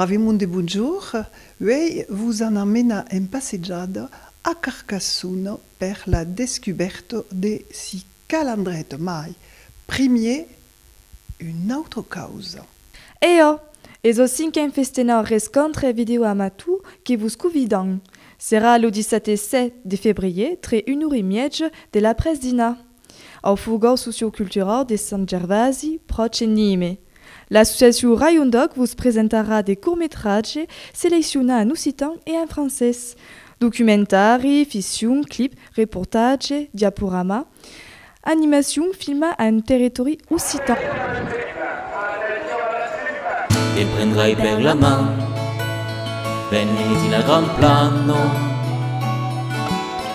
Bravimonde Bonjour, uèi vos an a menar en passejada a Carcassonne per la descubèrta de si cal endret, mai primier una autra causa. Eò! Es au cinquen festenar rescontre video amatou que vos covidam. Serà lo dissate 7 de febrier tre un ora e miètja de l'après-dinar. Au furgó socioculturau de Sant Gervasi, pròche Nîmes, l'associacion Rayon d'Òc vos presentarà de cortmetratge seleccionà en occitan e en francés, documentari, ficcion, clip, reportatge, diaporama, animacion filmada en territòri occitan. Te prendrai per la man, veni dins la grand plano.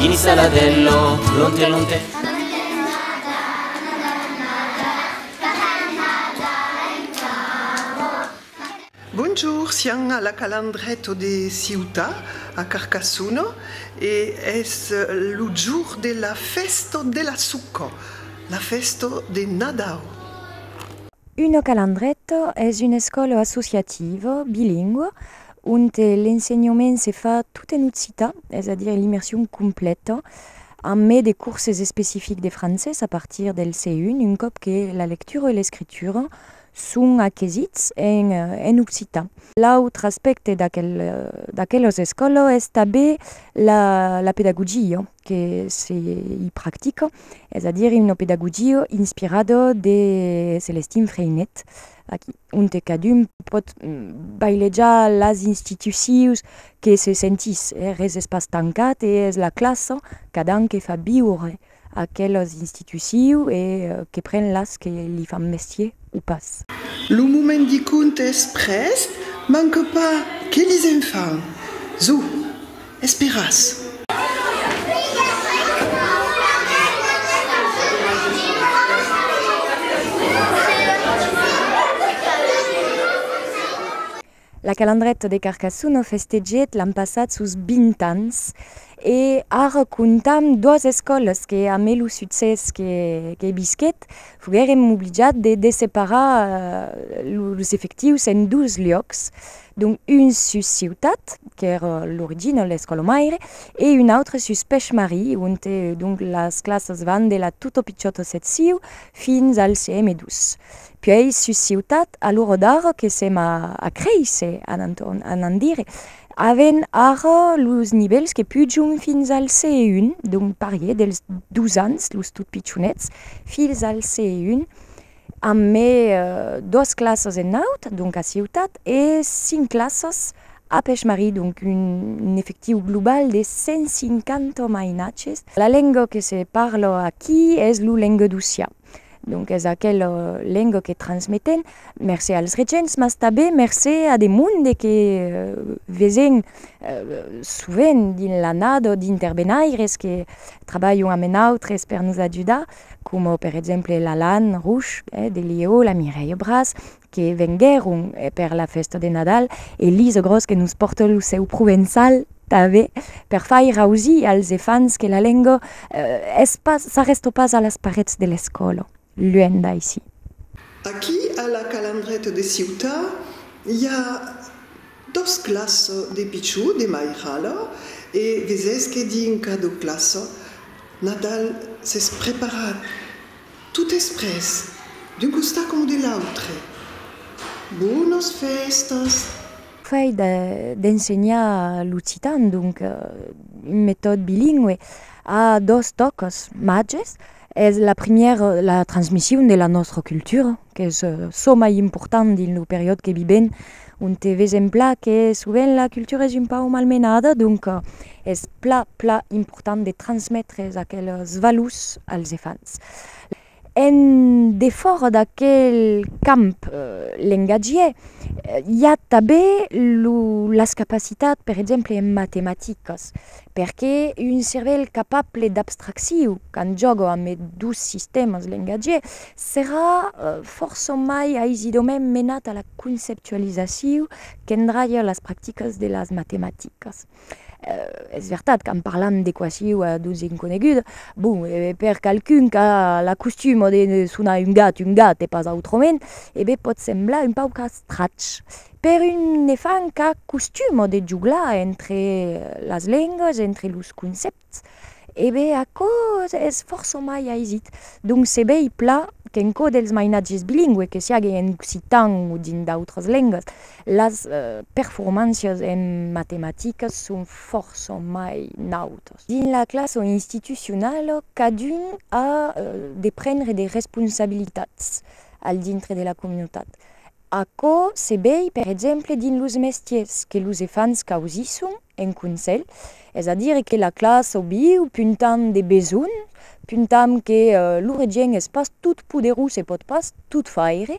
Gini saladello, lonte lonte. Bonjour, siam a la Calandreto de Ciuta, a Carcassono, e es lo jour de la festo de la suco, la festo de Nadau. Uno Calandreto es un escòlo associativo bilingüe onte l'ensenhament se fa tot en occitan, es a dire l'immersion complèta, amb mai de corses especifics de francés a partir del C1, un còp que la lectura e l'escritura son aquesits en occitan. L'autre aspècte d'aquelas escòlas es tanben la pedagogia que se i practica, es a dire una pedagogia inspirada de Celestin Freinet, aquí. onte cadun pòt bailejar las institucions que se sentís, eh? res es pas tancat e es la classa qu'adan que fa viure aquelas institucions e que pren las que li fan mestier o pas. Lo moment de conte es prèst, manque pas que lisèm fan! Zo! Esperàs! La Calandreta de Carcassona o festegèt l'an passat sos 20 ans e ara comptam doas escòlas que a mai lo succès que bisquèt foguèrem obligat de desseparar los efectius en dos luòcs Dont un sus Ciutat, qu'ère l'origina l'escòla maire, e un autre sus Pech-Marie, onte donc las classas van de la tota pichòta secciu fins al CM2. Puèi sus Ciutat, a l'ora d'ara que sèm a créisser, anant dire, avèn ara los nivèls que pujon fins al CE1, donc parier dels dos ans, los tot pichonets, fins al CE1, Amb me dos classas en naut, donc a Ciutat, e cinc classas a Pechmarie, donc un efectiu global de 150 mainatges. La lenga que se parla aquí es lo lenguedocian, donc es aquela lenga que transmetem mercé als regents, mas tanben mercé a de monde que vesèm sovent dins l'annada d'interbenaires que trabalhan amb nautres per nos ajudar. coma per exemple l'Alan Rouch de Lièu, la Mireille Bras que venguèron per la fèsta de Nadal e Lise Gros que nos pòrta lo seu provençal tanben per faire ausir als efants que la lenga es pas, s'arrèsta pas a las parets de l'escòla, luènh d'aicí. Aquí a la Calandreta de Ciutat i a Dos classe de pichou de mairala e vesés que dinca do classe Nadal s'es preparat tot es pres d'un costat coma de l'autre. Bonas festas! Fai d'ensenhar l'occitan, donc un metòd bilingüe, a dos tòcas, màges, Es la primièra la transmission de la nòstra cultura qu'es çò mai important dins lo periòde que vivèm onte vesèm plan que sovent la cultura es un pauc malmenada donc es plan plan important de transmetre aqueles valors als enfants. En defòra d'aquel camp lengatgièr i a tanben las capacitats per exemple en matematicas. perqué un cervèl capable d'abstracciu quand jògo amb es dos sistèmas lengatgier serà fòrça mai aisidament menat a la conceptualizaciu qu'endralha las practicas de las matematicas. Es vertat quand parlam d'equaciu a dos inconegudas, bon, per qualqu'un qu'a l'acostuma de sonar un gat un gat e pas autrament, e ben pòt semblar un pauc estrach, Per un nefant qu'a costuma de joglar entre las lengas, entre los concèpts, e be aquò es fòrça mai aisit. Donc se vei pla qu'en çò dels mainatges bilingües, que siágue en occitan o dins d'autras lengas, las performàncias en matematicas son fòrça mai nautas. Dins la classa institucionala, cadun a de prendre de responsabilitats al dintre de la comunitat. Aquò se vei per exemple dins los mestiers que los efants causisson en conselh, es a dire que la classa o viu puntam de besonh, puntam que lo regent es pas tot poderós e pòt pas tot faire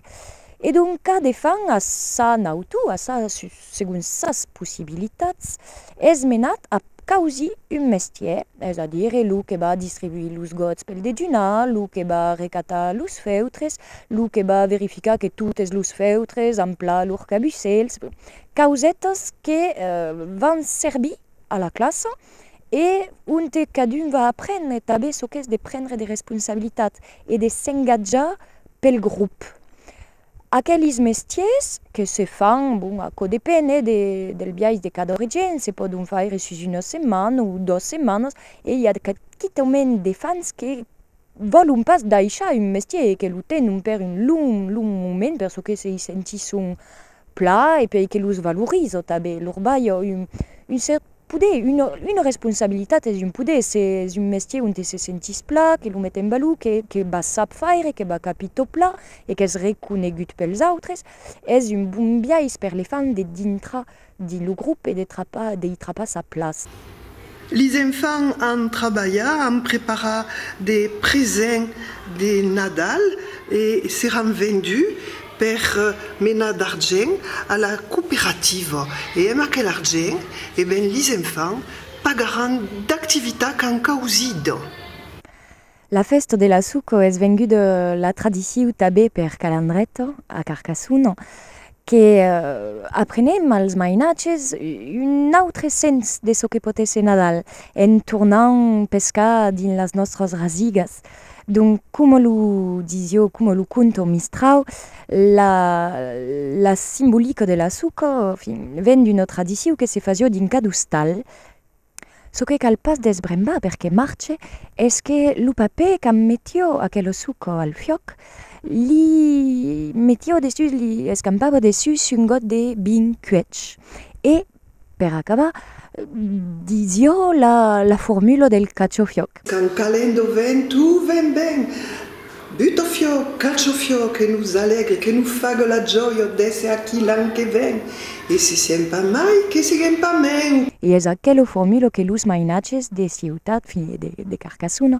e donc cada efant a sa nautor, a sa segons sas possibilitats, es menat a causir un mestièr, es a dire lo que va distribuir los gòts pel dejunar, lo que va recatar los feutres, lo que va verificar que totes los feutres an plan lors cabussèls, causètas que van servir a la classa e onte cadun va aprendre tanben çò qu'es de prendre de responsabilitats e de s'engatjar pel grop. Aquelis mestiers que se fan, bon, aquò depen hè, del biais de cada origin, se pòdon faire sus una setmana o dos setmanas e i a quitament de femns que vòlon pas daishar un mestier e que lo tenon per un long, long moment per çò que se i sentisson plan e per que los valoriza tanben, lor balha un cèrt Poder, una responsabilitat, es un poder, es un mestier onte se sentís plan, que lo met en valor, que va sap faire, que va capir tot plan e qu'es reconegut pels autres. Es un bon biais per le fan de dintrar dins lo grop e de i trapar sa plaça. Lis enfants an trabalhat, an preparat de presents de Nadal e seràn venduts per menar d'argent a la cooperativa e amb aquel argent e ben lis enfants pagaràn d'activitat qu'an causida. La fèsta de la suco es venguda la tradiciu tabé per Calandret a Carcassona que aprenèm als mainatges un autre sens de çò que pòt èsser Nadal en tornant pescar dins las nòstras rasigas. Donc, coma lo disio, coma lo conto Mistrau, la la simbolica de la suca, enfin, ven d'una tradicion que se fasio dins cada ostal. Çò que cal pas desbrembar per que marche es que lo papè qu'an metio aquela suca al fuòc li metio dessús, li escampava dessús un got de vin cuech e, Per acabar, ditz jo la formula del cachofiòc. Quand calent do vent, tu ven ben! Butofiòc, cachofiòc, que nos alègre, que nos fague la jòia d'èsser aquí l'an que ven! E si siem pas mai, que siguem pas mèn! E es aquela formula que los mainatges de Ciutat, fin, e de Carcassona,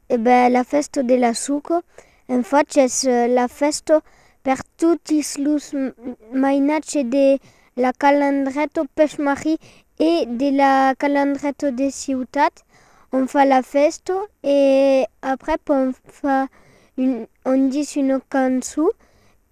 E ben la fèsta de la suco en fach es la fèsta per totis los mainatge de la calandreta pech marri e de la calandreta de ciutat on fa la fèsta e aprèp on fa on dis una cançon